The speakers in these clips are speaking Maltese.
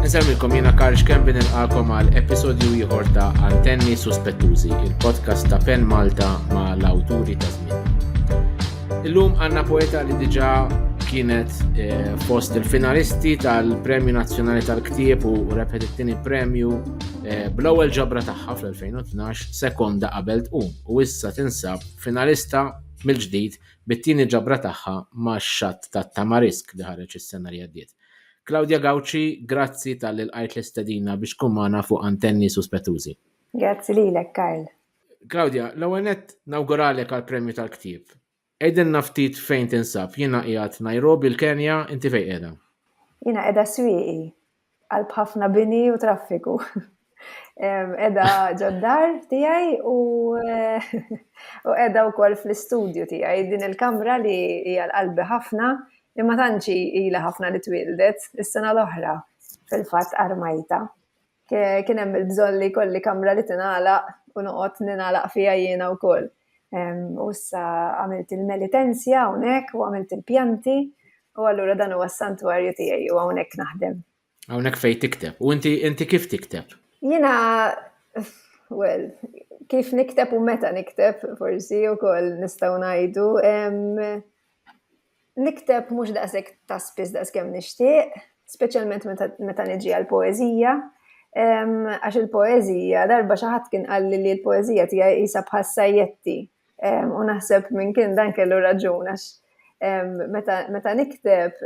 Insemmilkom jiena Karl Xkembi nilqakom għal episodju ieħor ta' Antenni Suspettużi, il-podcast ta' Pen Malta ma' l-awturi ta' żmien. Illum għandna poeta li diġà kienet eh, fost il-finalisti tal-Premju Nazzjonali tal-Ktieb u rebħet it-tieni premju eh, bl-ewwel ġabra tagħha fl-2012 sekonda qabel tqum u issa tinsab finalista mill-ġdid bit-tieni ġabra tagħha ma' Xatt tat-Tamarisk li ħareġ is-sena li għaddiet. Claudia Gauci, grazzi talli lqajt l-istedina biex tkun magħna fuq Antenni Suspettużi. Grazzi lilek, Karl. Claudia, l-ewwel nett nawguralek għall-premju tal-ktieb. Għidilna ftit fejn tinsab. Jiena qiegħed Nairobi, l-Kenja, inti fejn qiegħda? Jiena qiegħda Swieqi, f'qalb ħafna bini u traffiku. Edha ġoddar tijaj u edha u koll fl-istudju tijaj din il-kamra li hija l-qalbi ħafna imma tanċi ila ħafna li twildet is-sena l-oħra fil-fat armajta. Kien hemm il-bżonn li kolli kamra li tinala u noqgħod ninala fija jiena u koll. u issa għamilt il-melitenzja hawnhekk u għamilt il-pjanti u allura dan huwa s-santwarju tiegħi u hawnhekk naħdem. Hawnhekk fejn tikteb. U inti inti kif tikteb? Jiena well, kif nikteb u meta nikteb forsi wkoll nistgħu ngħidu Nikteb mhux daqshekk ta' spiss daqskemm nixtieq, speċjalment meta niġi għal poeżija, għax il-poeżija, darba xi ħadd kien qalli li l-poeżija tiegħi qisha bħas-sajjetti, u naħseb min kien dan kellu raġun għax meta nikteb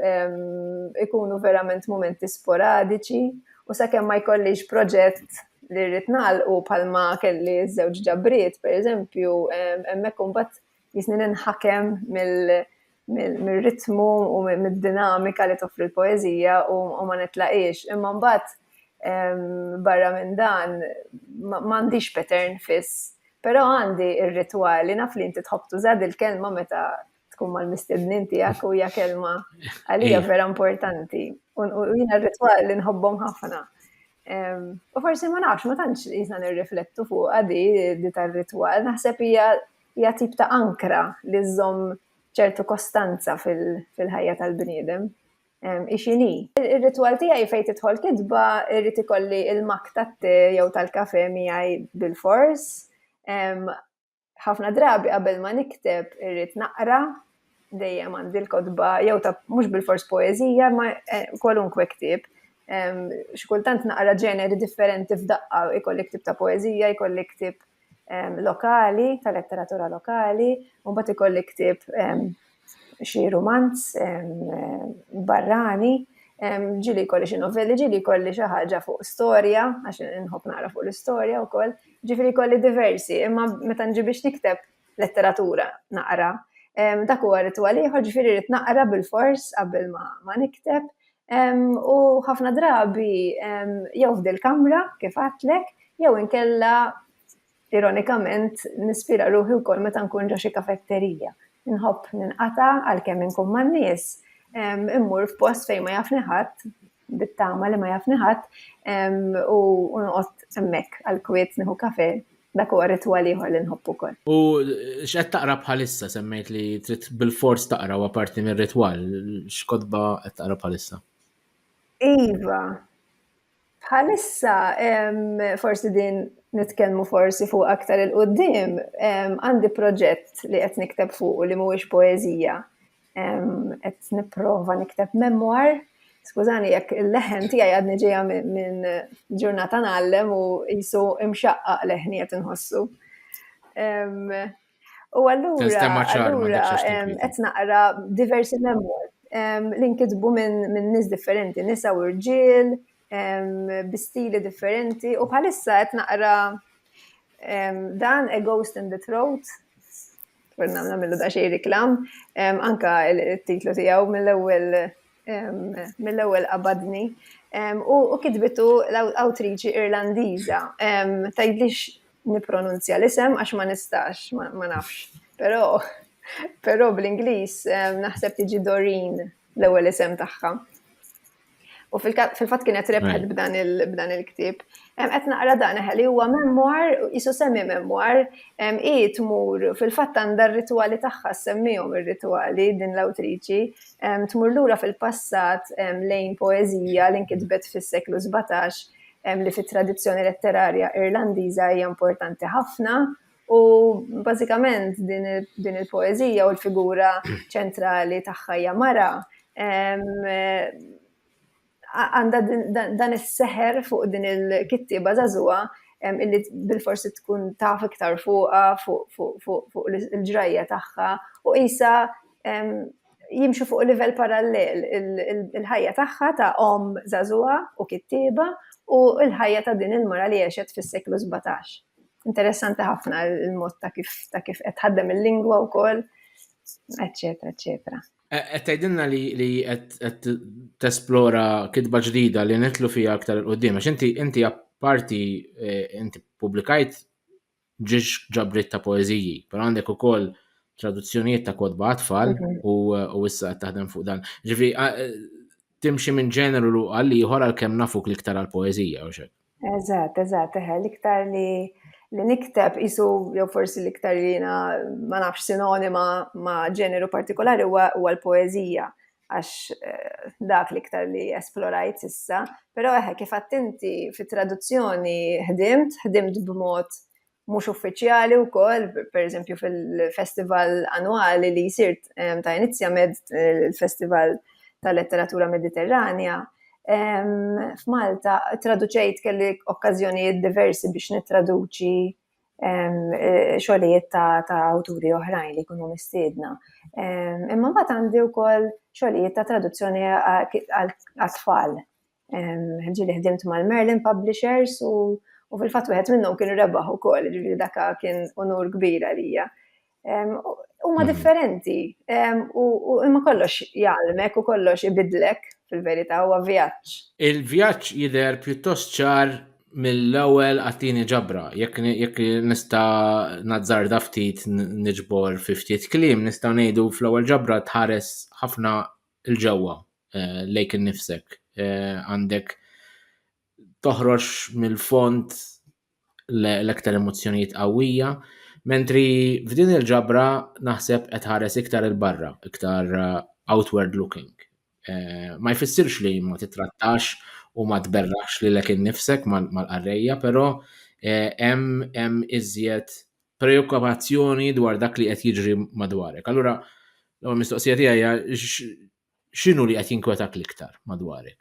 ikunu verament mumenti sporadiċi u sakemm ma jkollix proġett li rrid nagħlqu bħalma kelli ż-żewġ ġabriet, pereżempju, hemmhekk imbagħad jisni ninħakem mill-ritmu u mill-dinamika li toffri l-poezija u ma nitlaqiex. Imma mbagħad barra minn dan m'għandix pattern fiss, però għandi r-ritwali naf li inti tħobb tuża dil-kelma meta tkun mal-mistednin tiegħek u hija kelma għalija vera importanti. U jiena r-ritwal li nħobbhom ħafna. U forsi ma nafx, ma tantx jisna nirriflettu fuq għadi di tar-ritwal, naħseb hija hija tip ta' ankra li żżomm ċertu kostanza fil-ħajja tal-bniedem. Hi x'inhi. Ir-ritwal tiegħi fejn tidħol kitba irrid ikolli l-mak tat-te jew tal-kafe miegħi bilfors. Ħafna drabi qabel ma nikteb irrid naqra dejjem għandi l-kotba, jew ta' mhux bil-fors poeżija, ma eh, kwalunkwe ktieb. Xikultant naqra ġeneri differenti f'daqqa, ikolli ktieb ta' poeżija, ikolli ktieb lokali, ta' letteratura lokali, u bat ikolli ktieb xi romanz barrani, ġili kolli xi novelli, ġili kolli xi ħaġa fuq storja, għax nħobb nara fuq l-istorja wkoll, ġifieri kolli diversi, imma meta nġi biex nikteb letteratura naqra. Dak huwa ritwal ieħor, ġifieri rrid naqra bil-fors qabel ma nikteb. U ħafna drabi jew f'dil kamra kif għatlek, jew inkella ironikament nispira ruħi wkoll meta nkun ġo xi kafetterija. Inħobb ninqata' għalkemm inkun man-nies, immur f'post fejn ma jafni ħadd bit-tama li ma jafni ħadd u noqgħod hemmhekk għal kwiet nieħu kafe dak huwa ritwal ieħor li nħobb ukoll. U x'qed taqra bħalissa semmejt li trid bil-fors taqra wa parti mir-ritwal, x'kotba qed taqra bħalissa? Iva, bħalissa forsi din nitkellmu forsi fuq aktar il-qoddim, għandi proġett li qed nikteb fuq li mhuwiex poeżija Qed nipprova nikteb memwar. Skużani jekk il-leħen tiegħi għadni ġejja minn ġurnata ngħallem u jisu imxaqqaq leħni qed inħossu. U allura allura qed naqra diversi memwar li nkitbu minn nies differenti, nisa u rġiel, bi stili differenti u bħalissa qed naqra dan A Ghost in the Throat Għurna għamna millu da xej reklam, anka il-titlu tijaw mill-ewel mill-ewel qabadni. U kitbitu l-awtriċi irlandiza, tajdlix nipronunzja l-isem għax ma nistax, ma nafx. Pero, pero bl-Inglis naħseb tiġi Doreen l-ewel isem taħħa. U fil-fatt kienet rebħet b'dan il-ktieb. Qed naqra dan li huwa memwar, isu semmi memwar, hi tmur fil-fatt għandha r-ritwali tagħha semmihom ir-ritwali din l-awtriċi, tmur lura fil-passat lejn poeżija li nkitbet fis-seklu 17 li fit-tradizzjoni letterarja Irlandiża hija importanti ħafna U bażikament din il-poeżija u l-figura ċentrali tagħha hija mara għandha dan is-seħer fuq din il-kittieba żagħżugħa illi bil-forsi tkun taf iktar fuqa fuq il-ġrajja tagħha u isa jimxu fuq livell parallel il-ħajja tagħha ta' om żagħżugħa u kittieba u l-ħajja ta' din il-mara li għexet fis-seklu 17. Interessanti ħafna il-mod ta' kif ta' kif qed ħaddem il-lingwa wkoll, eċetera, eċetera. E, qed tgħidilna li li qed tesplora kitba ġdida li nitlu fiha aktar il qudiem għax inti inti apparti e, inti pubblikajt ġiex ġabrit ta' poeżiji, però għandek ukoll traduzzjonijiet ta' kodba għatfall mhm. u issa qed taħdem fuq dan. Ġifi, Timxi minn ġeneru għal ieħor għalkemm nafuk l-iktar għall-poeżija u xek. Eżatt, eżatt, eħe, l-iktar li li nikteb isu jew forsi l-iktar li jiena ma nafx sinonima ma' ġeneru partikolari huwa l-poeżija għax eh, dak l-iktar li esplorajt issa, pero eħe kif attinti fit traduzzjoni ħdimt, ħdimt b'mod mhux uffiċjali wkoll, pereżempju fil-festival annwali li jsir ehm, ta' Inizja Med, il-Festival tal-Letteratura Mediterranja, ehm, f'Malta traduċejt kelli okkażjonijiet diversi biex nittraduċi Eh, xogħlijiet ta' awturi oħrajn li jkunu mistiedna. Imma mbagħad għandi wkoll xogħlijiet ta' traduzzjoni għal-tfal. Ġili ħdimt mal-Merlin Publishers u, u fil-fatt wieħed minnhom kien rebaħ ukoll, ġifieri daka kien unur kbir għalija. Huma mm. differenti u imma kollox jgħalmek u kollox ibidlek fil-verità huwa vjaġġ. Il-vjaġġ jidher pjuttost ċar mill-ewwel għattini ġabra, jekk jekk nista' nazzarda ftit niġbor fi ftit kliem, nistgħu ngħidu fl-ewwel ġabra tħares ħafna l-ġewwa eh, lejk innifsek. Eh, għandek toħroġ mill-fond l-ektar emozzjonijiet qawwija, mentri f'din il-ġabra naħseb qed ħares iktar il-barra, iktar eh, outward looking. Ma jfissirx li ma titrattax u ma tberrax li lek innifsek mal-qarrejja, però hemm iżjed preokkupazzjoni dwar dak li qed jiġri madwarek. Allura, l mistoqsija tiegħi x'inhu li qed jinkwetak l-iktar madwarek?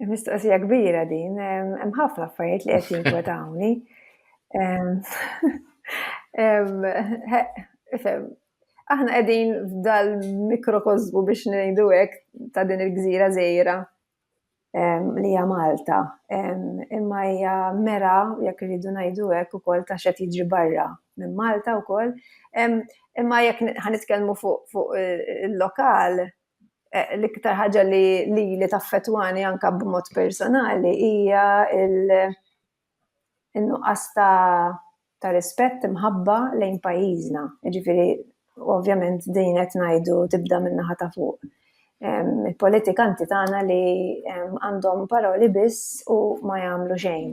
Mistoqsija kbira din, hemm ħafna affarijiet li qed jinkwetawni. Aħna qegħdin f'dal mikrokozmu biex ngħidu hekk ta' din il-gżira żgħira li hija Malta, imma hija mera, jekk irridu ngħidu hekk ukoll, ta' x'qed jiġri barra minn Malta wkoll. Imma jekk ħa nitkellmu fuq il-lokal, l-iktar ħaġa li lili taffettwani anke b'mod personali hija in-nuqqas ta' ta' rispett, imħabba lejn pajjiżna. Jiġifieri ovvjament din qed ngħidu tibda min-naħa ta' fuq. Il-politikanti tagħna li għandhom paroli biss u ma jagħmlu xejn.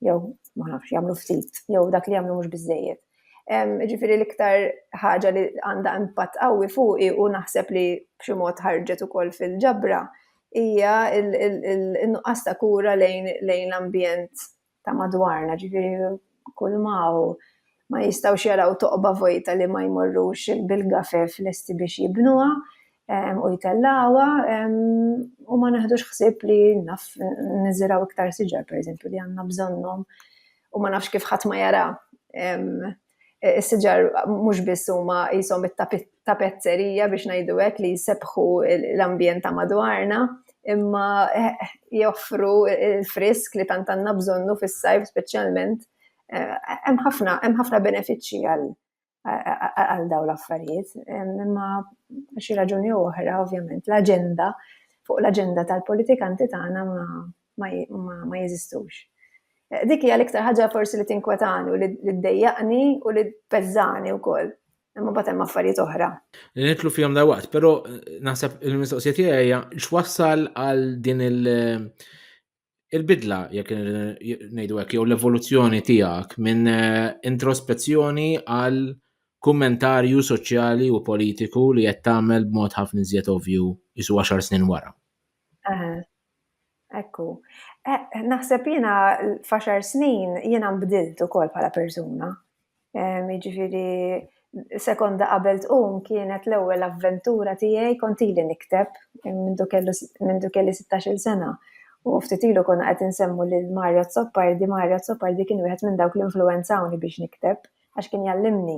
Jew ma nafx, jagħmlu ftit, jew dak li jagħmlu mhux biżżejjed. Jiġifieri l-iktar ħaġa li għandha impatt qawwi fuqi u naħseb li b'xi mod ħarġet ukoll fil-ġabra, hija n-nuqqas ta' kura lejn l-ambjent ta' madwarna, ġifieri kulma hawn ma jistgħux jaraw toqba vojta li ma jmorrux bil-gafef lesti biex jibnuha u jtellgħuha u ma neħdux ħsieb li naf niżirgħu iktar siġar pereżempju li għandna bżonnhom u ma nafx kif ħadd ma jara E, is-siġar mhux biss huma qishom it-tapezzerija biex ngħidu hekk li jsebħu l-ambjent ta' madwarna, imma joffru il-frisk li tant għandna bżonnu fis-sajf speċjalment. E, hemm ħafna hemm ħafna benefiċċji għal għal daw l-affarijiet, imma xi raġuni oħra, ovvjament, l-aġenda fuq l-aġenda tal-politikanti tagħna ma ma jeżistux. Dik hija l-iktar ħaġa forsi li tinkwetani u li ddejjaqni u li tpeżżani wkoll. Imma mbagħad hemm affarijiet oħra. Li nitlu fihom da waqt, però naħseb il-mistoqsija tiegħi hija x'wassal għal din il- il-bidla jekk ngħidu hekk jew l-evoluzzjoni tiegħek minn eh, introspezzjoni għal kummentarju soċjali u politiku li qed tagħmel b'mod ħafna iżjed ovju isu 10 snin wara. Ekku. Eh, naħseb jiena faxar snin jiena nbdilt ukoll bħala persuna. Jiġifieri sekonda qabel tqum kienet l-ewwel avventura tiegħi kont ili nikteb minn kelli 16-il sena. U ftit ilu konna qed insemmu lil Mario Zoppardi, Mario Zoppardi kien wieħed minn dawk li influwenzawni biex nikteb. għax kien jgħallimni.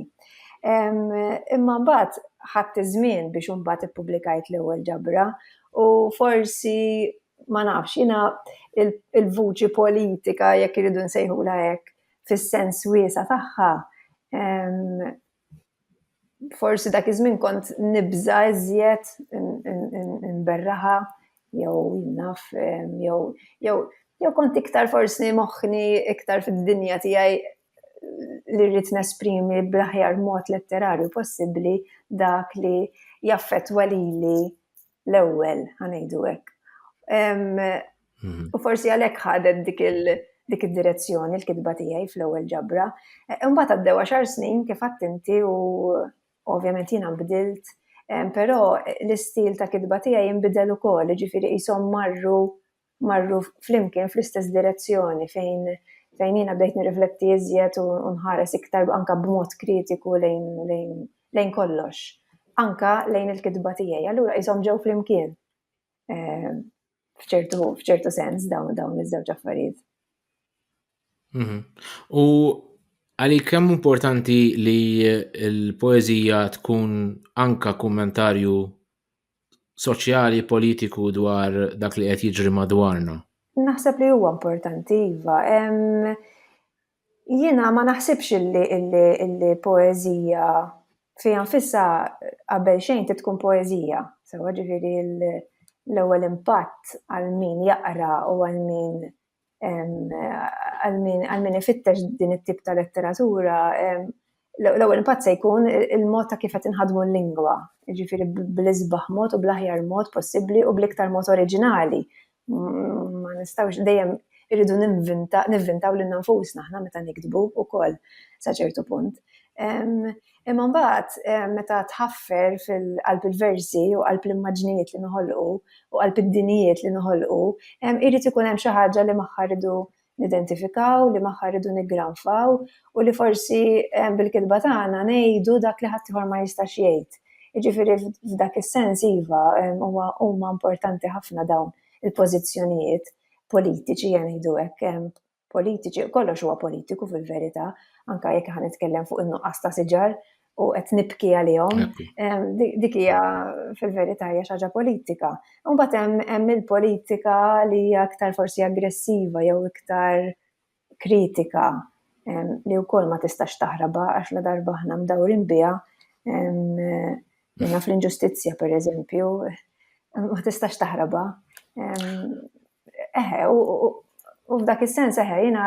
Imma mbagħad ħadd iż-żmien biex imbagħad ippubblikajt l-ewwel ġabra u forsi ma nafx jiena il-vuċi politika jekk iridu nsejħula hekk fis-sens wiesa tagħha forsi dak iż-żmien kont nibża iżjed nberraha jew naf jew jew jew kont iktar forsi moħħni iktar fid-dinja tiegħi li rrid nesprimi bl-aħjar mod letterarju possibbli dak li jaffettwa lili l-ewwel, ħanejdu hekk. Mhm. U forsi għalhekk ħadet dik il- dik id-direzzjoni l-kitba tiegħi fl-ewwel ġabra. E, imbagħad għaddew għaxar snin kif inti u ovvjament jiena nbdilt, però l-istil ta' kitba tiegħi jinbidel ukoll, ġifieri qishom marru marru flimkien fl-istess direzzjoni fejn fejn jiena bdejt nirrifletti iżjed u nħares iktar anka b'mod kritiku lejn lejn lejn kollox. Anka lejn il-kitba tiegħi. Allura qishom ġew flimkien. Eh, f'ċertu f'ċertu sens dawn dawn iż-żewġ affarijiet. Mhm. U għalik kemm importanti li l-poeżija tkun anka kummentarju soċjali, politiku dwar dak li qed jiġri madwarna. Naħseb li huwa importanti, iva. Jiena ma naħsibx illi illi poeżija fija nfissa qabel xejn ti tkun poeżija. Sewa ġifieri l-ewwel impatt għal min jaqra u għal min għal min ifittex din it-tip ta' letteratura, l-ewwel impatt se jkun il-mod ta' kif qed inħadmu l-lingwa, jiġifieri bl-isbaħ mod u bl-aħjar mod possibbli u bl-iktar mod oriġinali. Ma nistgħux dejjem irridu nivvintaw lil nfusna aħna meta niktbu wkoll sa ċertu punt. Imma mbagħad meta tħaffer fil-qalb il-versi u qalb l-immaġnijiet li noħolqu u qalb id-dinijiet li noħolqu, irid ikun hemm xi ħaġa li magħha rridu nidentifikaw, li magħha rridu niggranfaw u li forsi bil-kitba tagħna ngħidu dak li ħaddieħor ma jistax jgħid. Jiġifieri f'dak is-sens iva, huwa huma importanti ħafna dawn il-pożizzjonijiet politiċi, ngħidu hekk, politiċi, kollox huwa politiku fil-verità, anka jekk ħan nitkellem fuq in-nuqqas ta' siġar u qed nibki għalihom, dik hija fil-verità hija xi ħaġa politika. Imbagħad hemm il-politika li hija aktar forsi aggressiva jew iktar kritika li wkoll ma tistax taħraba għax la darba aħna mdawrin biha minna fl-inġustizzja pereżempju ma tistax taħraba. Eħe, u f'dak is-sens eħe, jiena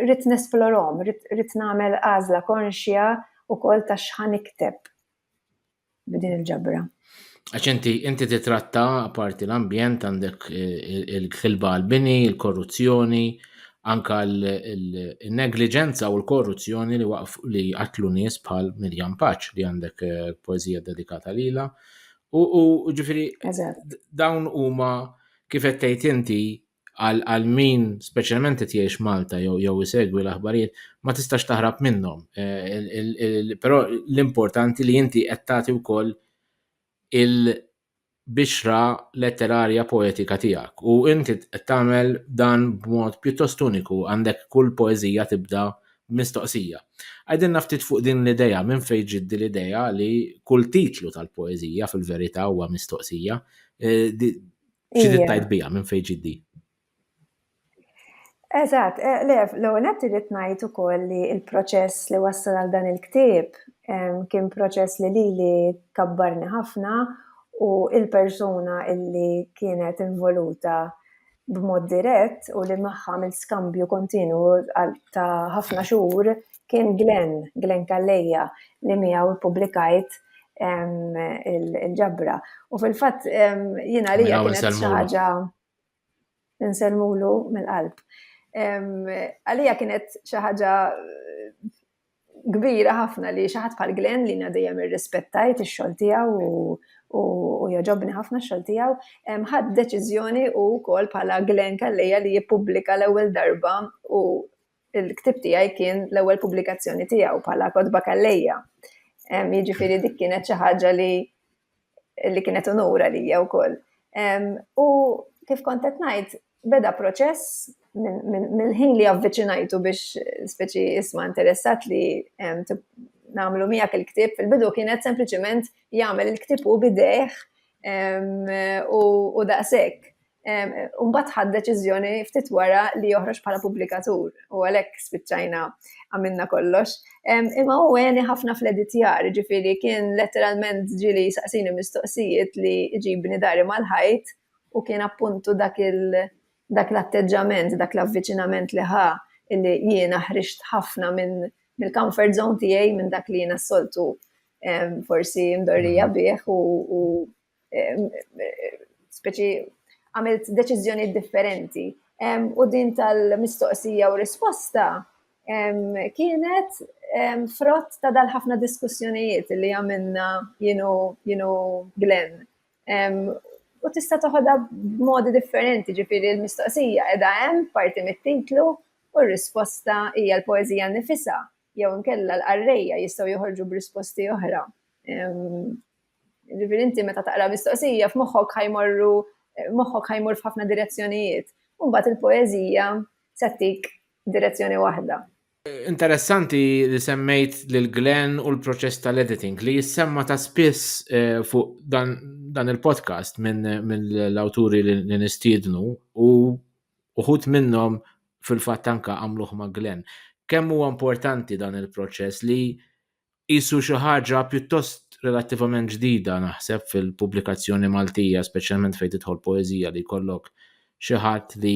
rrid nesplorom, rrid nagħmel għażla konxja wkoll ta' x'ħan ikteb b'din il-ġabra. Għax inti inti titratta parti l-ambjent għandek eh, il-ħilba għal-bini, il-korruzzjoni, anka l-negliġenza u l-korruzzjoni li waqf li għatlu nies bħal Mirjam Paċ li għandek eh, poezija dedikata lila. U ġifiri, dawn huma Kif qed tgħid inti, għal għal min speċjalment qed jgħix Malta jew jew isegwi l-aħbarijiet ma tistax taħrab minnhom. Eh, però l-importanti li inti qed tagħti wkoll il-bixra letterarja poetika tiegħek u inti qed tagħmel dan b'mod pjuttost uniku għandek kull poeżija tibda Mistoqsija, Għidilna ftit fuq din l-idea, minn fejn ġiet din l-idea li kull titlu tal-poeżija fil-verità huwa mistoqsija? Xi trid tgħid biha, minn fejn ġiet din? Eżatt, eh, le, l-ewwel qed irid ngħid ukoll li l-proċess li wassal għal dan il-ktieb kien proċess li lili kabbarni ħafna u il-persuna illi kienet involuta b'mod dirett u li magħha għamilt skambju kontinwu ta' ħafna xhur kien Glenn, Glenn Calleja, li miegħu ppubblikajt il-ġabra. U fil-fatt jiena li kienet xi ħaġa insellmulu mill-qalb. Għalija kienet xi ħaġa kbira ħafna li xi ħadd bħal Glenn li na dejjem irrispettajt ix-xogħol tiegħu u joġobni ħafna x-xogħol tiegħu, ħadd deċiżjoni u wkoll bħala Glenn Kalleja li jippubblika l-ewwel darba u l-ktib tiegħi kien l-ewwel pubblikazzjoni tiegħu bħala Kotba Kalleja. Jiġifieri dik kienet xi ħaġa li li kienet unur għalija wkoll. U kif kont qed ngħid, beda proċess mill-ħin li avviċinajtu biex speċi isma interessat li namlu miegħek il-ktib, fil-bidu kienet sempliċement jagħmel il-ktib u bidejh u daqshekk. u mbagħad ħadd deċiżjoni ftit wara li joħroġ bħala pubblikatur u għalhekk spiċċajna għamilna kollox. Imma u għeni ħafna fl-editjar, ġifiri kien letteralment ġili saqsini mistoqsijiet li ġibni dari mal-ħajt u kien appuntu dak dak l-atteġġament, dak l-avviċinament li ħa illi jiena ħriġt ħafna minn mill-comfort zone tiegħi minn dak li jiena soltu forsi mdorrija mhm. bih u speċi għamilt deċiżjoni differenti. U din tal-mistoqsija u risposta kienet frott ta' dal-ħafna diskussjonijiet li għamilna jenu, jenu Glenn. U tista' toħodha b'modi differenti, ġifieri l-mistoqsija qiegħda hemm parti mit-titlu u r-risposta hija l-poeżija nifisha jew inkella l-qarrejja jistgħu joħorġu b'risposti oħra. Ġifieri inti meta taqra mistoqsija f'moħħok ħajmorru moħħok ħajmur f'ħafna direzzjonijiet. Mbagħad il-poeżija se tik direzzjoni waħda. Interessanti li semmejt lil Glenn u l-proċess tal-editing li jissemma ta' spiss eh, fuq dan, dan il-podcast minn min l-awturi li nistiednu u uħut minnhom fil-fatt anka għamluħ ma' Glenn. Kemm huwa importanti dan il-proċess li Qisu xi ħaġa pjuttost relattivament ġdida naħseb fil-pubblikazzjoni Maltija, speċjalment fejn tidħol poeżija li jkollok xi ħadd li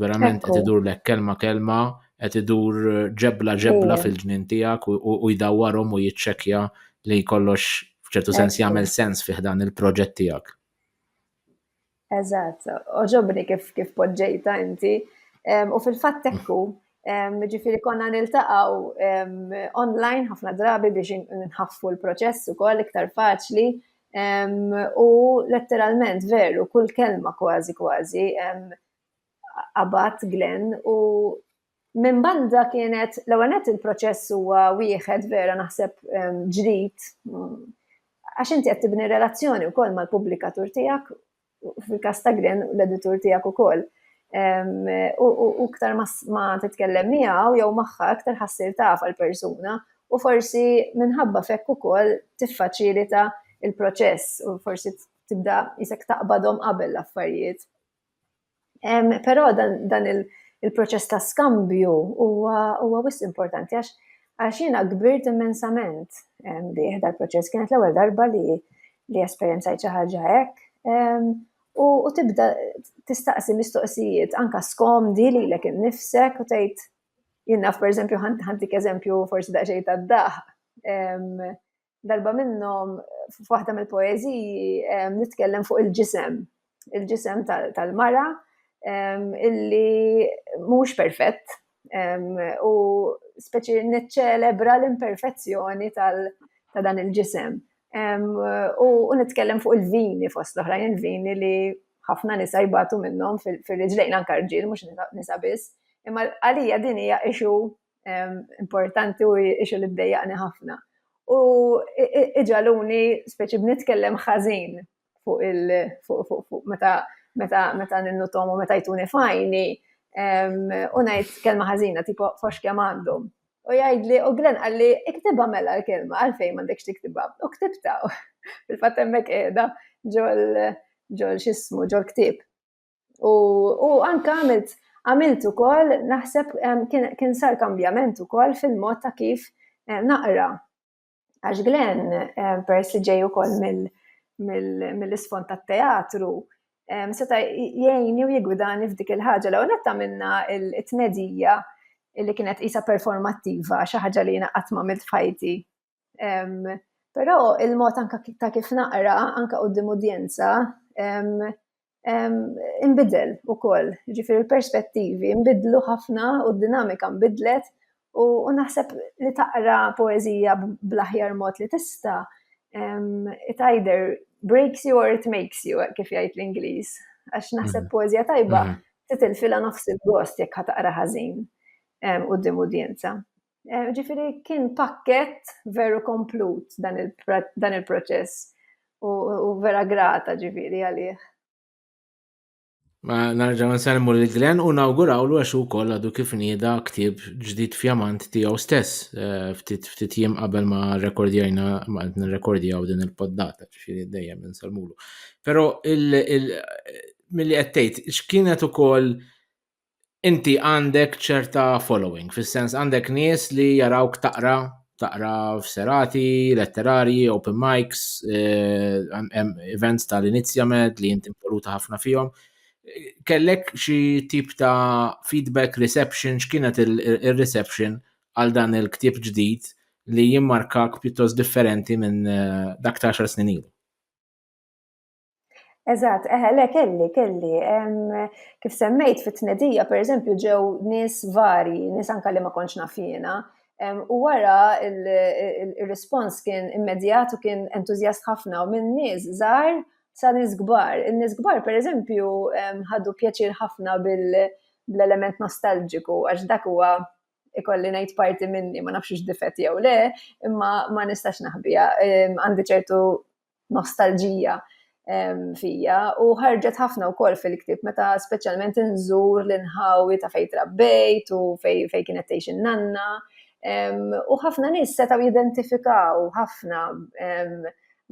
verament qed idurlek kelma kelma, qed idur ġebla ġebla fil-ġnien tiegħek u jdawwarhom u jiċċekkja li kollox f'ċertu sens jagħmel sens fih dan il-proġett tiegħek. Eżatt, oġobni kif kif poġġejta inti. U fil-fatt tekku, ġifiri konna niltaqaw online ħafna drabi biex nħaffu l-proċess u koll iktar faċli. U letteralment veru, kull kelma kważi kważi, abat Glenn u Minn banda kienet l-ewwel nett il-proċess huwa wieħed vera naħseb ehm, ġdid għax inti qed tibni relazzjoni wkoll mal-pubblikatur tiegħek fil-każ ta' Grin l-editur tiegħek ukoll. Ehm, u ktar ma titkellem miegħu jew magħha aktar ħassir taf għall-persuna u forsi minħabba fekk ukoll tiffaċilita il-proċess u forsi tibda jisek taqbadhom qabel l-affarijiet. Però dan il-proċess ta' skambju huwa wisq importanti għax għax jiena kbirt immensament bih dal-proċess. Kienet l-ewwel darba li li esperjenzajt xi ħaġa hekk u tibda tistaqsi mistoqsijiet anke skomdi lilek innifsek u tgħid jien naf pereżempju ħantik eżempju forsi daqsxejn tad-daħq. Darba minnhom f'waħda mill-poeżiji nitkellem fuq il-ġisem, il-ġisem tal-mara illi mhux perfett u speċi niċċelebra l-imperfezzjoni ta' dan il-ġisem. U nitkellem fuq il-vini fost l-oħrajn, il-vini li ħafna nisa jbatu minnhom fil-riġlejn anka rġiel mhux nisa biss, imma għalija din hija issue importanti u ixu li ddejjaqni ħafna. U iġaluni speċi b'nitkellem ħażin fuq il fuq meta meta meta ninnutom u meta jtuni fajni u ngħid kelma ħażina tipo fox kemm għandhom. U jgħidli u Glenn qalli iktibha mela l-kelma għalfejn m'għandekx tiktibha. U ktibta fil-fatt hemmhekk qiegħda ġol ġol xismu ġol ktib. U, u anka għamilt għamilt ukoll naħseb kien, kien sar kambjament ukoll fil-mod ta' kif naqra. Għax Glenn, pers li ġej ukoll mill-isfond tat-teatru, seta' jgħinni u jigwidani f'dik il-ħaġa. L-ewwel netta minna it-tnedija li kienet isa performattiva, xi ħaġa li jiena qatt ma milt f'ħajti. Però il-mod anka ta' kif naqra, anka qudiem udjenza, imbidel ukoll. Ġifieri l-perspettivi nbidlu ħafna u d-dinamika nbidlet u naħseb li taqra poeżija bl-aħjar mod li tista' it either breaks you or it makes you, kif jgħid l-Ingliż. Għax naħseb poeżija tajba titilfilha nofs il-gost jekk ħa taqra ħażin qudiem udjenza. Eh, ġifiri kien pakket veru komplut dan il-proċess u vera grata ġifiri għalih. Ma narġaw nsalmu li Glenn u nawguraw l għaxu koll għadu kif nida ktib ġdid fjamant tijaw stess eh, ftit jiem qabel ma rekordjajna ma għedna rekordjaw din il-poddata ġifiri dejjem nsalmulu. Pero mill-li għettejt, xkienet u koll inti għandek ċerta following, fis-sens għandek nies li jarawk taqra, taqra f'serati, letterarji, open mics, eh, events tal-inizja med li inti voluta ħafna fihom. Kellek xi tip ta' feedback, reception, x'kienet il-reception għal dan il-ktib ġdid li jimmarkak pjuttost differenti minn eh, dak ta' xar snin ilu? Eżatt, eħe, le kelli, kelli. Kif semmejt fit-tnedija, per eżempju, ġew nis vari, nis anka li ma konċ nafjena, u wara il-respons kien immedjat u kien entuzjast ħafna u minn nis zar sa nis gbar. Nis gbar, per eżempju, ħadu pjaċir ħafna bil-element nostalġiku, għax dak huwa ikolli ngħid parti minni, ma nafx difet jew le, imma ma nistax naħbija. Għandi ċertu nostalġija fija u ħarġet ħafna u kol fil-ktib meta specialment nżur l-inħawi ta' fej trabbejt u fej, fej kienet teħx nanna u ħafna nis setaw jidentifikaw ħafna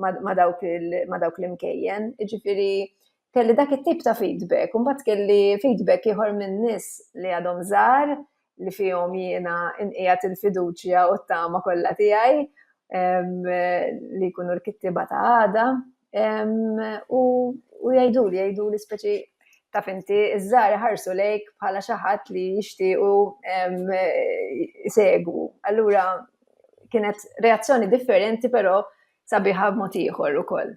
ma dawk l-imkejjen, ġifiri kelli dak it-tip ta' feedback, mbagħad kelli feedback ieħor minn nies li għadhom żgħar li fihom jiena nqiegħed il-fiduċja u t-tama kollha tiegħi li jkunu l-kittieba ta' għada. U jgħiduli, jgħiduli speċi ta' finti, iż-żgħar ħarsu lejk bħala xi ħadd li jixtiequ jsegwu. Allura kienet reazzjoni differenti però sabiħa b'mod ieħor ukoll.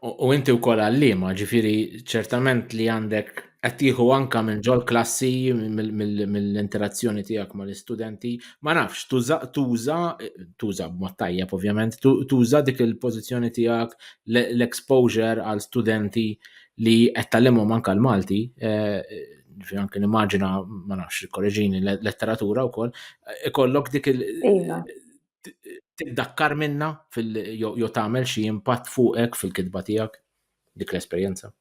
U inti wkoll għalliema, ġifieri ċertament li għandek qed tieħu anke minn ġol klassi mill-interazzjoni tiegħek mal-istudenti, ma nafx tuża tuża tuża b'mod tajjeb ovvjament, tuża dik il-pożizzjoni tiegħek l-exposure għal studenti li qed tgħallimhom anke l-Malti, eh, ġifieri anke nimmaġina ma nafx korreġini letteratura wkoll, ikollok dik il- iva. tiddakkar minna jew tagħmel xi impatt fuqek fil-kitba tiegħek dik l-esperjenza?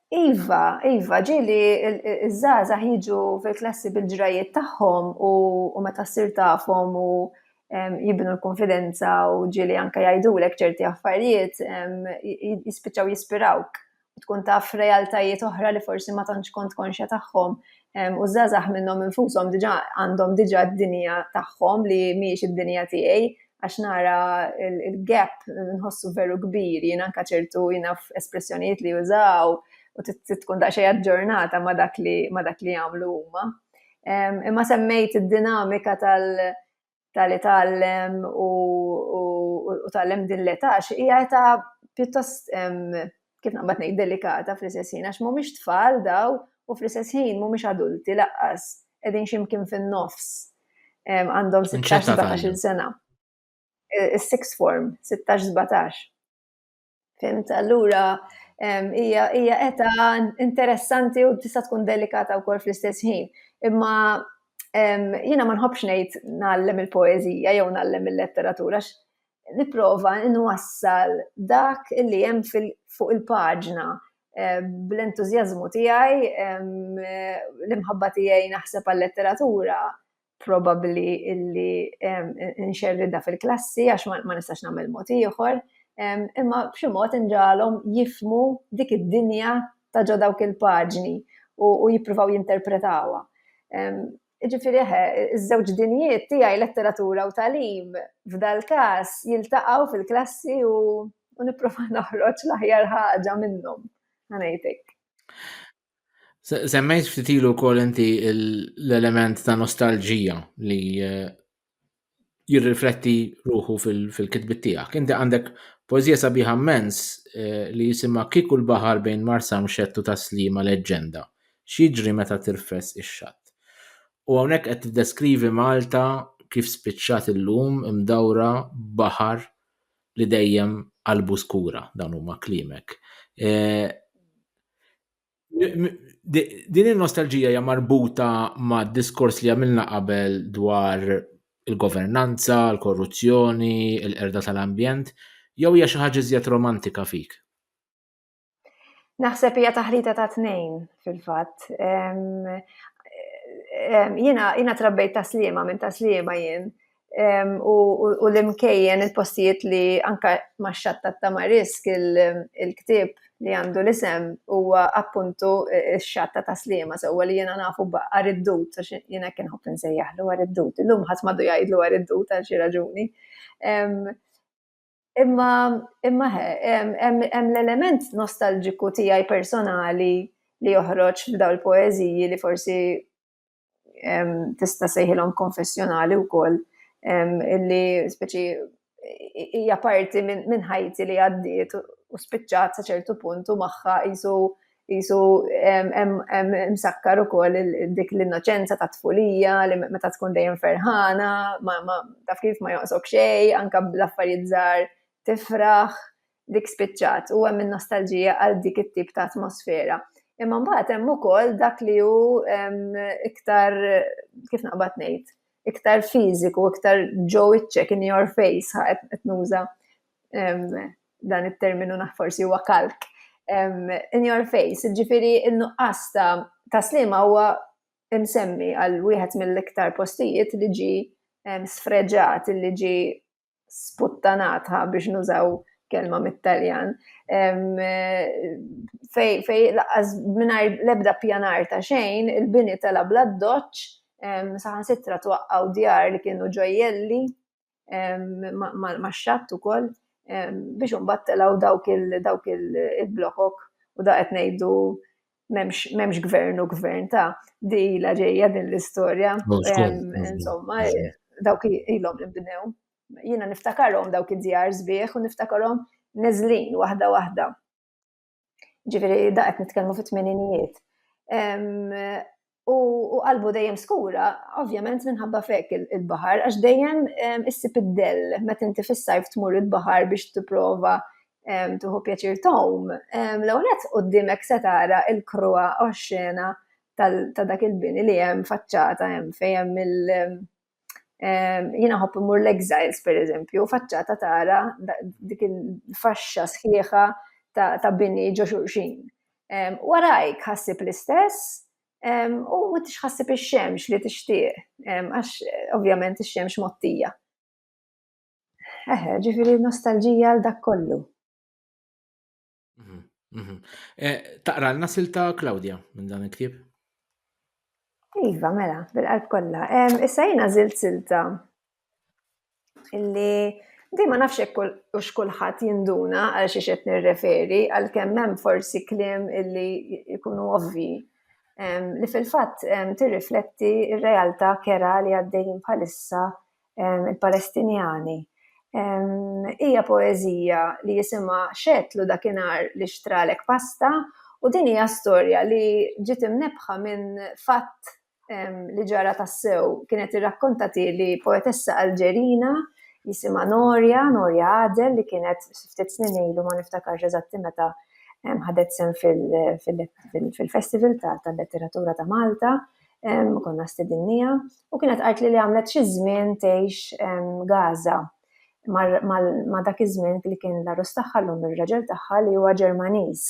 Iva, iva, ġili iż-żgħażagħ jiġu fil-klassi bil-ġrajiet tagħhom u meta ssir tafhom u jibnu l-konfidenza u ġili anke jgħidulek ċerti affarijiet jispiċċaw jispirawk tkun taf realtajiet oħra li forsi ma tantx kont konxja tagħhom u żgħażagħ minnhom infushom diġà għandhom diġà d-dinja tagħhom li mhijiex id-dinja tiegħi għax nara il-gap nħossu veru kbir jien anka ċertu jiena espressjonijiet li jużaw u tkun daqsxejn aġġornata ma dak li ma dak li jagħmlu huma. Imma semmejt id-dinamika tal- tal-li tallem u, u, u tallem din l-età, hija età pjuttost kif naqbad ngħid delikata fl-istess ħin għax mhumiex tfal daw u fl-istess ħin mhumiex adulti laqqas qegħdin ximkien fin-nofs għandhom 16-17 sena. Is-sixth form, 16-17. Fimt, allura hija hija eta interessanti u tista' tkun delikata wkoll fl-istess ħin. Imma jiena ma nħobbx ngħid nagħallem il-poeżija jew nagħallem il-letteratura nipprova nwassal dak li hemm fuq il-paġna eh, bl-entużjażmu tiegħi, l-imħabba tiegħi naħseb għal-letteratura, probabbli illi nxerridha fil-klassi għax ma nistax nagħmel mod ieħor, imma b'xi mod inġalhom jifmu dik id-dinja ta' ġo dawk il-paġni u jippruvaw jinterpretawha. Ġifieri eħe, iż-żewġ dinjiet tiegħi letteratura u tagħlim f'dal-każ jiltaqgħu fil-klassi u nipprova noħroġ l-aħjar ħaġa minnhom, ħa ngħid hekk. Semmejt ftit ilu wkoll inti l-element ta' nostalġija li eh, jirrifletti ruħu fil-kitbit tiegħek. Inti għandek poezija sabiħa mens eh, li jisimha Kieku l-baħar bejn Marsa Mxettu ta' Slima leġġenda. X'jiġri meta tirfes ix-xatt. U hawnhekk qed tiddeskrivi Malta kif spiċċat illum imdawra baħar li dejjem qalbu skura dawn huma kliemek. Eh, din il-nostalġija hija marbuta ma' diskors li għamilna qabel dwar il-governanza, il-korruzzjoni, il-qerda tal-ambjent, jew hija xi ħaġa iżjed romantika fik? Naħseb hija taħlita ta' tnejn fil-fatt. Jiena jiena trabbejt taslima minn taslima jien u l-imkejjen il-postijiet li anka ma' xatta ta' marisk il-ktib li għandu l-isem huwa appuntu x-xatta taslima sewwa li jiena nafu b'għar id-dud għax jiena hekk inħobb insejjaħlu għar id-dud. Illum ħadd m'għadu jgħidlu għar id-dud għal xi raġuni. Imma, imma hemm l-element nostalġiku tiegħi personali li joħroġ f'daw il-poeżiji li forsi tista' sejħilhom konfessjonali wkoll illi speċi hija parti minn ħajti li għaddiet u spiċċat sa ċertu punt u magħha qisu Qisu hemm imsakkar ukoll dik l-innoċenza ta' tfulija li meta tkun dejjem ferħana, taf kif ma joqsok xejn, anke bl-affarijiet żgħar tifraħ, dik spiċċat u hemm in-nostalġija għal dik it-tip ta' atmosfera. Imma mbagħad hemm ukoll dak li hu iktar, kif naqbad ngħid, iktar fiżiku, iktar ġo wiċċek, in your face, qed nuża dan it-terminu naħ forsi huwa kalk, in your face, ġifiri il-nuqqas ta' slima huwa imsemmi għal wieħed mill-iktar postijiet li ġi sfreġat, li ġi sputtanatha biex nużaw kelma mit-Taljan, fej, fej laqqas minar lebda pjanar ta' xejn, il-bini tela bla doċ, saħan sitra twaqqaw djar li kienu ġojjelli, ma' xatt ukoll biex imbagħad telgħu dawk il-dawk il-blokok u da qed ngħidu m'hemmx gvern u gvern ta' di la ġejja din l-istorja. Insomma, dawk ilhom li bnew. Jiena niftakarhom dawk id-djar sbieħ u niftakarhom neżlin waħda waħda. Ġifieri da qed nitkellmu fit-tmeninijiet. U qalbu dejjem skura, ovvjament minħabba fek il-baħar, għax dejjem issib id-dell, meta inti fis-sajf tmur il-baħar biex tipprova tuħu pjaċir tom, l-għonet u d-dimek setara il-krua oxxena ta' dak il-bini li jem faċċata jem fejem Jiena nħobb immur l-Exiles, per eżempju, faċċata tara dik il-faxxa sħiħa ta' bini ġo xulxin. Warajk ħassib l-istess, u ma tix ħassib ix-xemx li tixtieq, għax ovvjament ix-xemx mottija. Eħe, ġifiri nostalġija għal dak kollu. Mhm, mhm. Eh, taqra l nasil ta' Claudia minn dan il-ktib? Iva, mela, bil-qalb kollha. Issa jiena żilt silta illi di ma nafx hekk u x'kulħadd jinduna għal xi qed nirreferi għal kemm hemm forsi kliem illi jkunu ovvi li fil-fatt tirrifletti r-realtà kera li għaddejjin bħalissa ehm, il-Palestinjani, ehm, hija poeżija li jisimha xetlu dakinhar li xtralek pasta u din hija storja li ġiet imnebħa minn fatt ehm, li ġara tassew kienet irrakkontati li poetessa Alġerina jisimha Norja, Norja Adel li kienet ftit snin ilu ma niftakarx eżatti meta ħadet sem fil-festival tal-letteratura ta' Malta konna stedinniha, u kienet qalt li li għamlet xi żmien tgħix Gaza ma dak iż-żmien li kien l-arus tagħha llum ir-raġel tagħha li huwa Ġermaniż.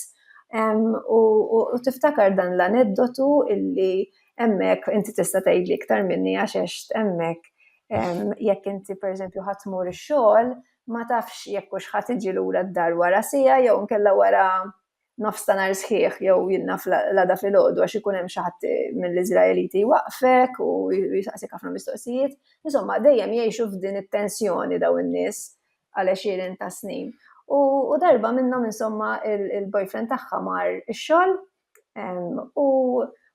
U tiftakar dan l-aneddotu illi hemmhekk inti tista' tgħidli iktar minni għax għext hemmhekk jekk inti pereżempju ħadd tmur ix-xogħol ma tafx jekk hux ħadd iġi lura d-dar wara siegħa jew inkella wara nofs ta' nhar sħiħ jew jilna fl-għada filgħodu għax ikun hemm xi ħadd mill-Iżraeliti jwaqqfek u jsaqsik ħafna mistoqsijiet. Insomma, dejjem jgħixu f'din it-tensjoni daw in-nies għal għexieren ta' snin. U, u darba minnhom insomma il-boyfriend tagħha mar ix-xogħol u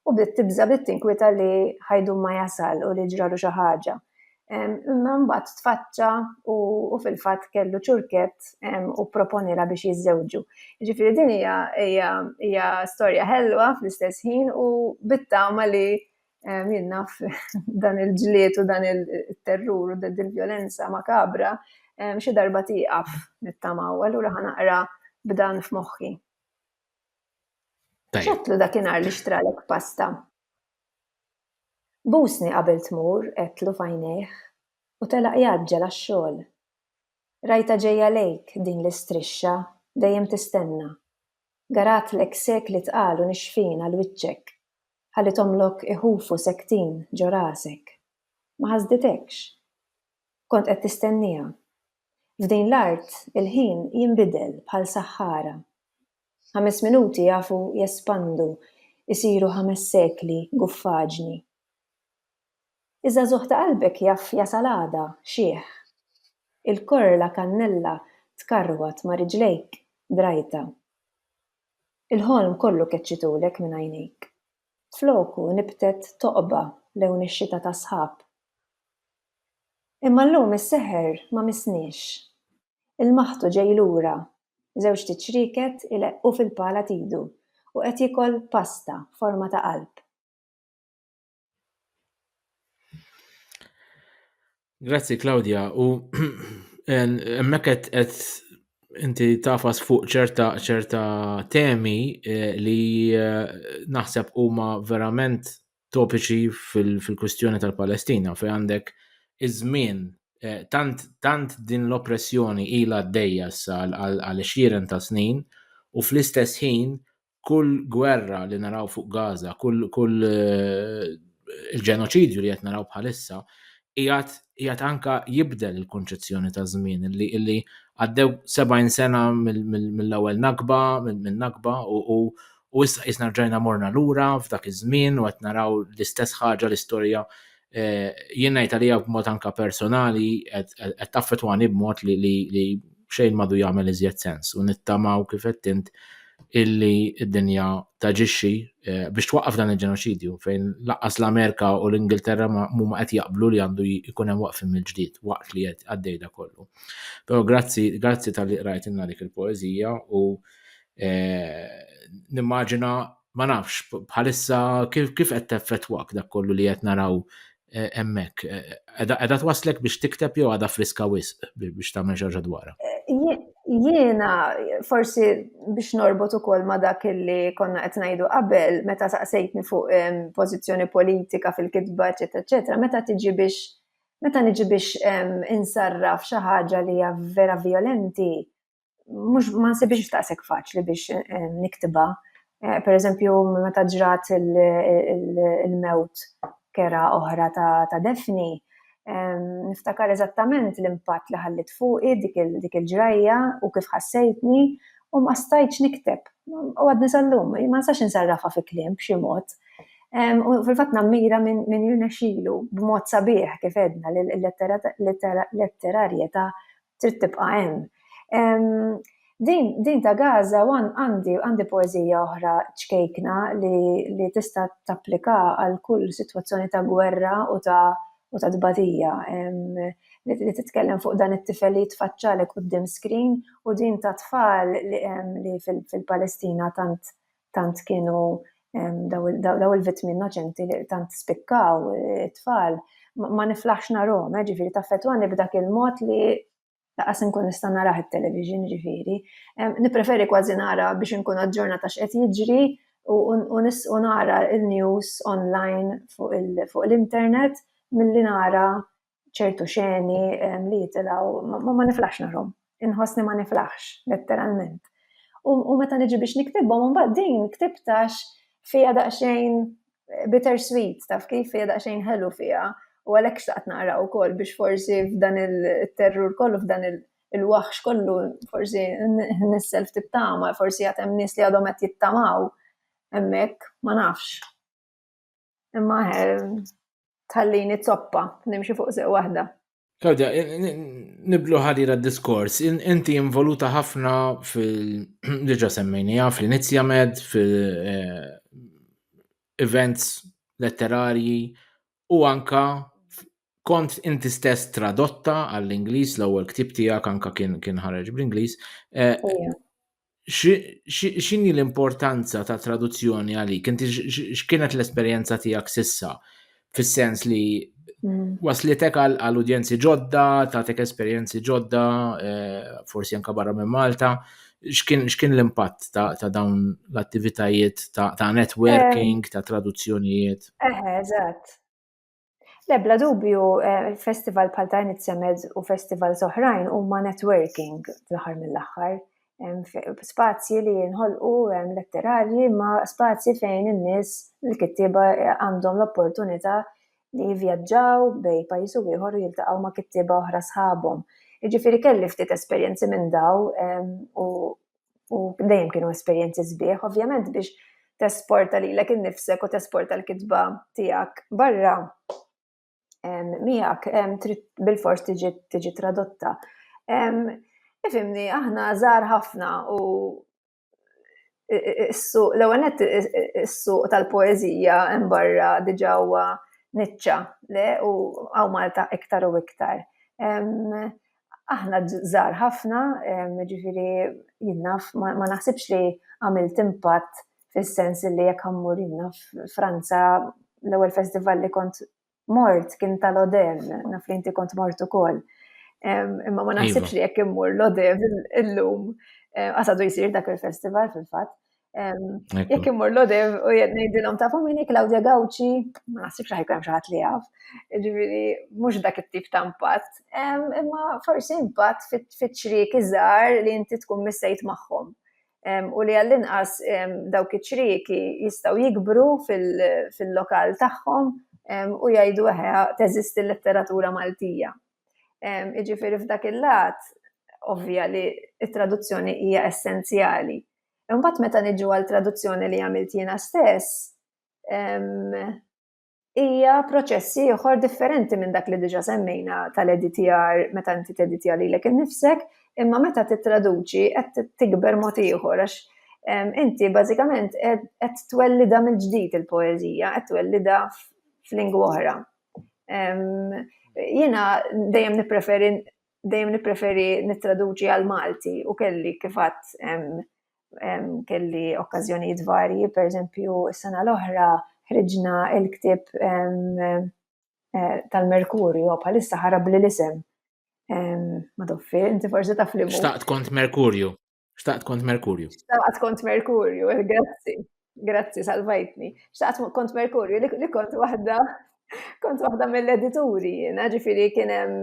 u bdiet tibża bdiet tinkwita li ħajdu ma jasal u li ġralu xi ħaġa. Imma mbagħad tfaċċa u fil-fatt kellu ċurkett u proponiela biex jiżżewġu. Ġifieri din hija hija storja ħelwa fl-istess ħin u bit-tama li jien naf dan il-ġlied u dan il-terrur u din il-vjolenza makabra xi darba tieqaf nittamaw, allura ħa naqra b'dan f'moħħi. X'għedtlu dakinhar li xtralek pasta? Busni qabel tmur, għedtlu f'għajnejh, u telaq jgħaġġel għax-xogħol. Rajtha ġejja lejk, din l-istrixxa, dejjem tistenna. Garatlek sekli tqal u nixfin għal wiċċek, ħalli tgħommlok iħufu sektin ġo rasek. Ma ħasditekx. Kont qed tistenniha. F'din l-art il-ħin jinbidel bħal saħħara. Ħames minuti jafu jespandu, isiru ħames sekli guffaġni. Iż-żagħżugħ ta' qalbek jaf jasal għada xiħ. Il-korla kannella tkarwat ma' riġlejk drajta. Il-ħolm kollu keċċitulek minn għajnejk. Floku nibtet toqba lewn ix-xita tas-sħab. Imma llum is-seħer ma missniex. Il-maħtu ġej lura. Żewġt iċrieket ileqqu fil-pala t'idu u qed jiekol pasta b'forma ta' qalb. Grazzi Claudia u hemmhekk qed qed inti tafas fuq ċerta ċerta temi eh, li eh, naħseb huma verament topiċi fil-kwistjoni tal-Palestina fejn għandek iż-żmien eh, tant, tant din l-oppressjoni ilha għaddejja issa għal xieren ta' snin u fl-istess ħin kull gwerra li naraw fuq Gaza, kull, kull eh, il-ġenoċidju li qed naraw bħalissa, jgħat anka jibdel il-konċezzjoni ta' żmien li illi għaddew 70 sena mill-ewwel nakba, minn nakba u U issa qisna rġajna morna lura f'dak iż-żmien u qed naraw l-istess ħaġa l-istorja jien ngħid għalija b'mod anke personali qed taffetwani b'mod li xejn madu jagħmel iżjed sens u nittamaw kif qed int illi d-dinja taġixxi eh, biex twaqqaf dan il-ġenoċidju fejn laqqas l-Amerika u l-Ingilterra mhuma qed jaqblu li għandu jkun hemm waqfim mill-ġdid waqt li qed għaddejda kollu. Però grazzi grazzi tal-li qrajt inna dik il-poeżija u Nimmaġina ma nafx bħalissa kif kif qed teffettwak dak kollu li qed naraw hemmhekk. Qeda twaslek biex tikteb jew għadha friska wisq biex tagħmel xi dwarha. Jiena forsi biex norbot ukoll ma' dak li konna qed ngħidu qabel meta saqsejtni fuq pożizzjoni politika fil-kitba, eċetera, eċetera, meta tiġi biex meta niġi biex insarraf xi ħaġa li hija vera vjolenti, mhux ma nsibix daqshekk faċli biex eh, niktiba. Eh, per eżempju, meta ġrat il-mewt kera oħra ta' Defni, eh, niftakar eżattament l-impatt li ħallit fuqi dik il-ġrajja u kif ħassejtni u ma stajċ nikteb. U għadni sal-lum, ma nsax nsarrafa fi klim b'xi mod. U fil-fat nammira minn jirna xilu b'mod sabiħ kif edna l-letterarjeta Trid tibqa' hemm. Din, din ta' Gaza wan għandi għandi poeżija oħra ċkejkna li li tista' tapplika għal kull sitwazzjoni ta' gwerra u ta' u ta' tbatija li titkellem fuq dan it-tifel li jitfaċċalek quddiem screen u din tat-tfal li fil-Palestina tant tant kienu daw il-vittmi innoċenti li tant spikkaw eh, it-tfal, ma niflaħx narhom, eh, ġifieri taffetwani b'dak il-mod li laqas inkun nista' narah it-television ġifieri. Nippreferi kważi nara biex inkun aġġornata x'qed jiġri u nara il-news online fuq l-internet milli nara ċertu xeni li jitilaw, ma niflaħx narhom. Inħossni ma niflaħx, letteralment. U meta niġi biex niktibhom, mbagħad din ktibtax fija daqsxejn eh, bittersweet, taf kif fija daqsxejn ħelu fija. U għalhekk xtaqt naqra wkoll biex forsi f'dan il-terrur kollu f'dan il-waħx kollu forsi nissel ftit tama, forsi għatem nies li għadhom qed jittamaw hemmhekk, ma nafx. Imma tħallini zoppa, nimxi fuq sew waħda. Kawda, niblu ħadira diskors, inti involuta ħafna fil-ġa semmejni, għaf li nizjamed fil-events eh, letterarji u anka kont inti stess tradotta għall-Ingliż l-ewwel ktieb tiegħek anka kien kien ħareġ bl-Ingliż. Eh, x'inhi l-importanza ta' traduzzjoni għalik? Inti x'kienet l-esperjenza tiegħek sissa? Fis-sens li mm. waslitek għal udjenzi ġodda, tagħtek esperjenzi ġodda, eh, forsi anka barra minn Malta, x'kien l-impatt ta' dawn l-attivitajiet ta' networking, eh. ta' traduzzjonijiet? Eħe, eżatt. Lebla dubju, eh, festival bħal ta' Nitsemed u festival soħrajn huma networking fl-aħħar mill-aħħar. Spazji li jinħolqu letterarji ma spazji fejn in-nies l-kittieba eh, għandhom l-opportunità li jivjaġġaw bej pajjiż u ieħor u jiltaqgħu ma' kittieba oħra sħabhom. Jiġifieri kelli ftit esperjenzi minn daw u u dejjem kienu esperjenzi sbieħ, ovvjament biex tesporta li l-ek innifsek u tesporta l-kitba tijak barra miegħek bil-fors tiġi tradotta. Ifimni, aħna żgħar ħafna u l-għanet s-suq tal-poezija barra diġa huwa nitċa, le, u għaw Malta iktar u iktar. Aħna żgħar ħafna, jiġifieri jien naf, ma naħsibx li għamilt impatt fis-sens li jekk ħa mmur jien naf Franza l-ewwel festival li kont mort kien ta' Lodev, naf li inti kont mort ukoll. Imma ma naħsibx iva. li jekk immur Lodev illum eh, għasadu jsir dak il-festival fil-fatt. Jekk immur l-odev u jgħed ngħidilhom tafu min hi Claudia Gawċi, ma naħsibx li ħajkun xi li jaf. Ġifieri mhux dak it-tip ta' impatt, imma forsi impatt fiċ-ċriek iżgħar li inti tkun missejt magħhom. U li għall-inqas dawk iċ-ċrieki jistgħu jikbru fil-lokal tagħhom u jgħidu eħe teżisti l-letteratura Maltija. Iġifieri f'dak il-lat ovvja li t-traduzzjoni hija essenzjali. Imbagħad meta niġu għal traduzzjoni li għamilt jiena stess, hija proċess ieħor differenti minn dak li diġa semmejna tal-editjar meta inti teditja lilek innifsek, imma meta titraduċi qed tikber mod ieħor għax inti bażikament qed twellida mill-ġdid il-poeżija, qed twellida f'lingwa oħra. Jiena dejjem nippreferi dejjem nippreferi nittraduċi għall-Malti u kelli kif għadt kelli okkażjonijiet varji, pereżempju s-sena l-oħra ħriġna l-ktieb tal-Mercurio, bħalissa ħarabli l-isem, Madoffi, inti forsi taf liema hu. Xtaqt kont Mercurio. Xtaqt kont Merkurju. Xtaqt kont Merkurju, eh, grazzi. Grazzi, salvajtni. Xtaqt kont Merkurju li kont waħda kont waħda mill-edituri jiena, ġifiri kienem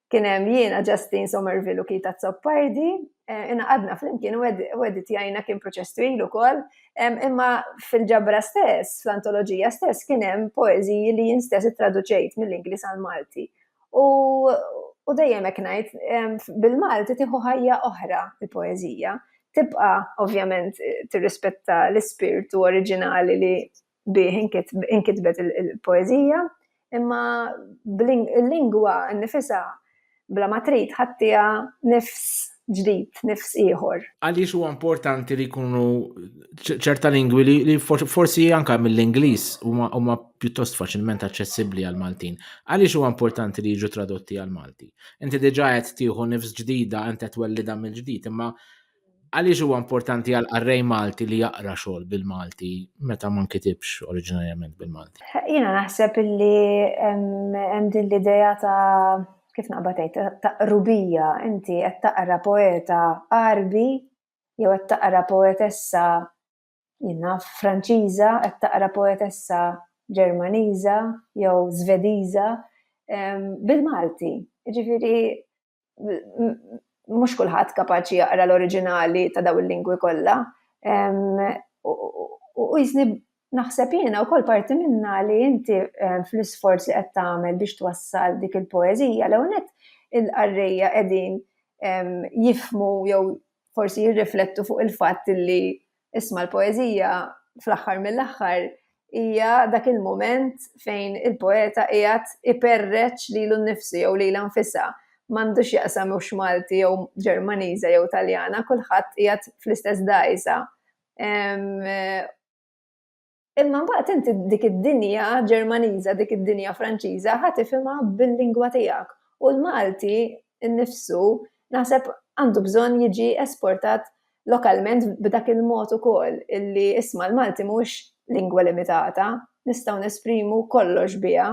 kienem jiena Justin Somerville u Kita Zoppardi, eh, inna għadna fl-imkien u editjajna kien proċess twil u kol, imma fil-ġabra stess, fl-antologija stess, kienem poeziji li jien stess traduċejt mill-Inglis għal-Malti. U, u dejjem hekk ngħid, bil-Malti tieħu ħajja oħra il-poeżija. Tibqa' ovvjament tirrispetta l-ispirtu oriġinali li bih inkitbet il-poeżija, imma il-lingwa nnifisha bla ma trid ħadtiha nifs ġdid, nifs ieħor. Għaliex huwa importanti li jkunu ċerta lingwi li forsi anka mill-Ingliż huma pjuttost faċilment aċċessibbli għal Maltin. Għaliex huwa importanti li jiġu tradotti għal Malti? Inti diġà qed tieħu nifs ġdida int qed twellida mill-ġdid, imma għaliex huwa importanti għal qarrej Malti li jaqra xogħol bil-Malti meta ma nkitibx oriġinarjament bil-Malti? Jiena naħseb li hemm din l-idea ta' kif naqbad għid, ta' qrubija, inti qed taqra poeta Għarbi jew qed taqra poetessa jiena Franċiża, qed taqra poetessa Ġermaniża jew Żvediża ehm, bil-Malti. Ġifieri mhux kulħadd kapaċi jaqra l-oriġinali ta' daw il-lingwi kollha. Ehm, u jizni Naħseb jiena wkoll parti minnha li inti fl-isforz li qed tagħmel biex twassal dik il-poeżija l-ewwel nett il-qarrejja qegħdin jifhmu jew forsi jirriflettu fuq il-fatt li isma' l-poeżija fl-aħħar mill-aħħar hija dak il-mument fejn il-poeta qiegħed iperreċ lilu nnifsu jew lilha nfisha. M'għandu x'jaqsam hux Malti jew Ġermaniża jew Taljana kulħadd qiegħed fl-istess dgħajsa Imma mbagħad inti dik id-dinja Ġermaniża, dik id-dinja Franċiża ħa tifhimha bil-lingwa tiegħek. U l-Malti nnifsu naħseb għandu bżonn jiġi esportat lokalment b'dak il-mod ukoll illi isma' l-Malti mhuwiex lingwa limitata, nistgħu nesprimu kollox biha.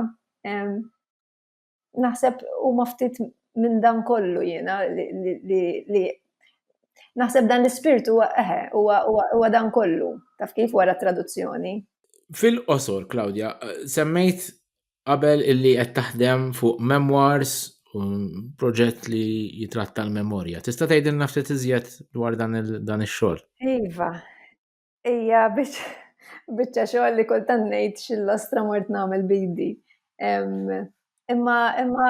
naħseb huma ftit minn dan kollu jiena li naħseb dan l-ispirtu eħe huwa dan kollu taf kif wara traduzzjoni. Fil-qosor, Claudia, semmejt qabel illi qed taħdem fuq memoirs u proġett li jitratta l-memorja. Tista' tgħidilna ftit iżjed dwar dan ix-xogħol? Iva, Ija biex biċċa xogħol li kultant ngħid xillostra mort nagħmel bidi. Imma imma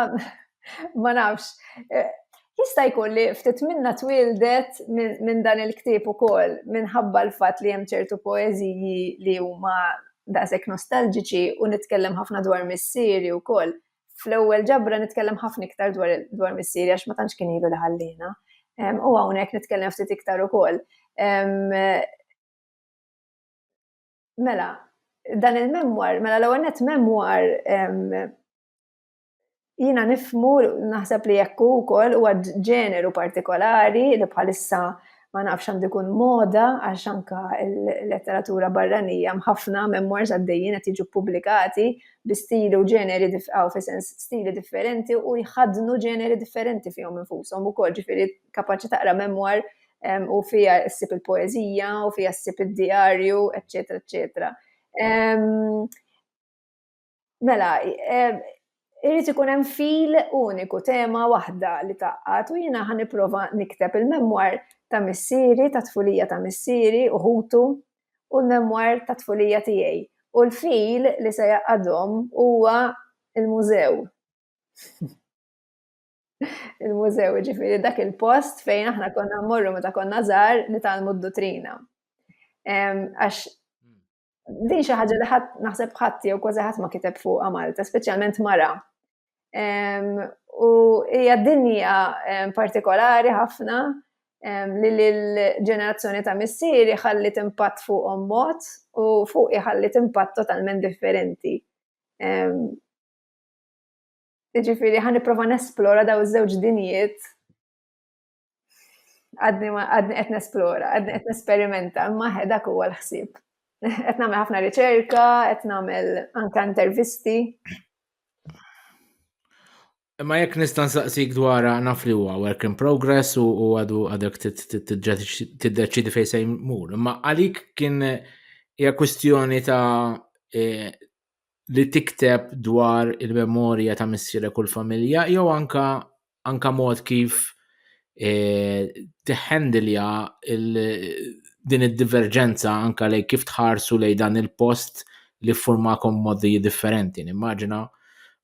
ma nafx. Eh, jista' jkun li ftit minna twildet minn dan il-ktieb ukoll minħabba l-fatt li hemm ċertu poeżiji li huma daqshekk nostalġiċi u nitkellem ħafna dwar missieri wkoll fl-ewwel ġabra nitkellem ħafna iktar dwar dwar missieri għax ma tantx kien ilu li ħallina. U hawnhekk nitkellem ftit iktar ukoll. Mela, dan il-memwar, mela l-ewwel net memwar jina nifmu naħseb li jekku wkoll huwa ġeneru partikolari li bħalissa ma nafx għandu jkun moda għax anka l-letteratura barranija mħafna memoirs għaddejjin qed jiġu ppubblikati bi stili u ġeneri għaw fi sens stili differenti u jħadnu ġeneri differenti fihom infushom ukoll ġifieri kapaċi taqra memoir u fija ssib il-poeżija u fija ssib id-diarju, eċetera, eċetera. Mela, irrid ikun hemm fil uniku tema waħda li taqqat u jiena ħan nipprova nikteb il-memwar ta' missieri, ta' tfulija ta' missieri u ħutu u l-memwar ta' tfulija tiegħi. U l-fil li se jaqadhom huwa il-mużew. il-mużew ġifieri dak il-post fejn aħna konna mmorru meta konna żgħar nitalmu d-dutrina. Għax Din xi ħaġa li ħadd naħseb ħadd jew kważi ħadd ma kiteb fuqha Malta, speċjalment mara. U hija dinja partikolari ħafna li l-ġenerazzjoni ta' missieri ħalli impatt fuqhom mod u fuq iħalli impatt totalment differenti. Ġifieri ħan nipprova nesplora daw iż-żewġ dinjiet Għadni għadni qed nesplora, għadni qed nesperimenta, imma dak huwa l-ħsieb. Qed nagħmel ħafna riċerka, qed nagħmel anke intervisti. Imma jekk nista' nsaqsik dwar naf li huwa work in progress u għadu għadek tiddeċidi fejn se jmur. Imma għalik kien hija kwistjoni ta' e, li tikteb dwar il-memorja ta' missire kull familja jew anka anka mod kif e, tiħendilja din id-diverġenza anka lej kif tħarsu lej dan il-post li formakom modi differenti. Nimmaġina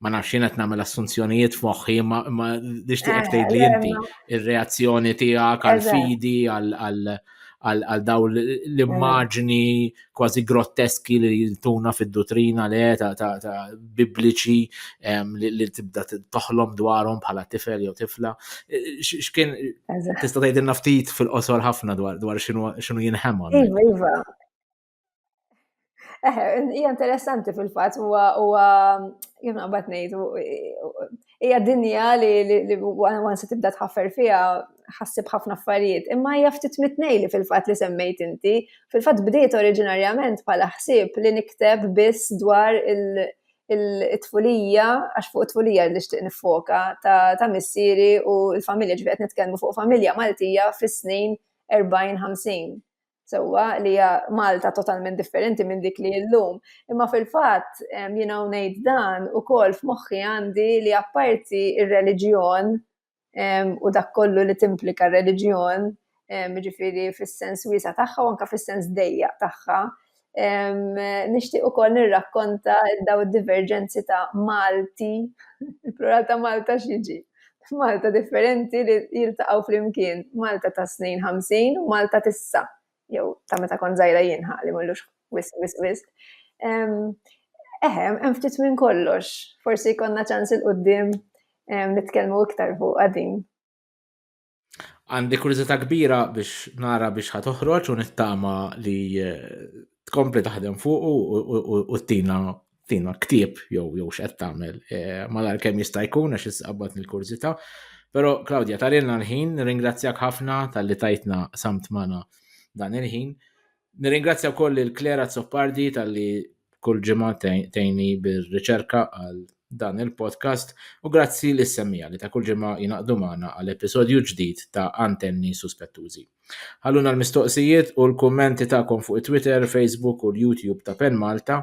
ma nafx jien qed nagħmel assunzjonijiet f'moħħi ma nixtieq eh, tgħid li inti ir-reazzjoni tiegħek għal fidi għal għal daw l-immaġni kważi grotteski li jiltuna fid-dutrina le ta' bibliċi li tibda toħlom dwarhom bħala tifel jew tifla. X'kien tista' tgħidilna ftit fil-qosor ħafna dwar x'inhu jinħema. Iva, iva. Eh, hija interessanti fil-fatt huwa huwa kif naqbad ngħid hija dinja li li wan se tibda tħaffer fiha ħassib ħafna affarijiet, imma hija ftit mitnej li fil-fatt li semmejt inti, fil-fatt bdiet oriġinarjament bħala ħsieb li nikteb biss dwar il- il-tfulija, għax fuq it-tfulija li xtiq nifoka ta' missieri u l-familja ġifiet nitkellmu fuq familja Maltija fis-snin 40-50. sewwa li hija Malta totalment differenti minn dik li llum. Imma fil-fatt jiena ngħid dan ukoll f'moħħi għandi li apparti ir-reliġjon u dak kollu li timplika r-reliġjon, jiġifieri fis-sens wiesa' tagħha u anke fis-sens dejjaq tagħha, nixtieq ukoll nirrakkonta dawn id-diverġenzi ta' Malti, il-plural ta' Malta x'jiġi? F'Malta differenti li jiltaqgħu flimkien Malta ta' snin 50 u Malta tissa, jew ta' meta kont żgħira jien ħa li mullux wisq wisq wisq. Eħem, hemm ftit minn kollox, forsi jkollna ċans il-qudiem nitkellmu iktar fuq din. Għandi kurżità kbira biex nara biex ħa toħroġ u nittama li eh, tkompli taħdem fuq u tina tina ktib jew jew x'qed tagħmel eh, malar kemm jista' jkun għax issqabbat il-kurżità. Però Klaudja tarilna l-ħin, ringrazzjak ħafna tal-li tajtna samt mana dan il-ħin. Nirringrazzja wkoll lil Claire Azzopardi talli kull ġimgħa tgħinni bir-riċerka għal dan il-podcast u grazzi lis semmija li ta' kull ġimgħa jingħaqdu magħna għal episodju ġdid ta' Antenni Suspettużi. Ħalluna l-mistoqsijiet u l-kummenti tagħkom fuq it-Twitter, Facebook u l-YouTube ta' Pen Malta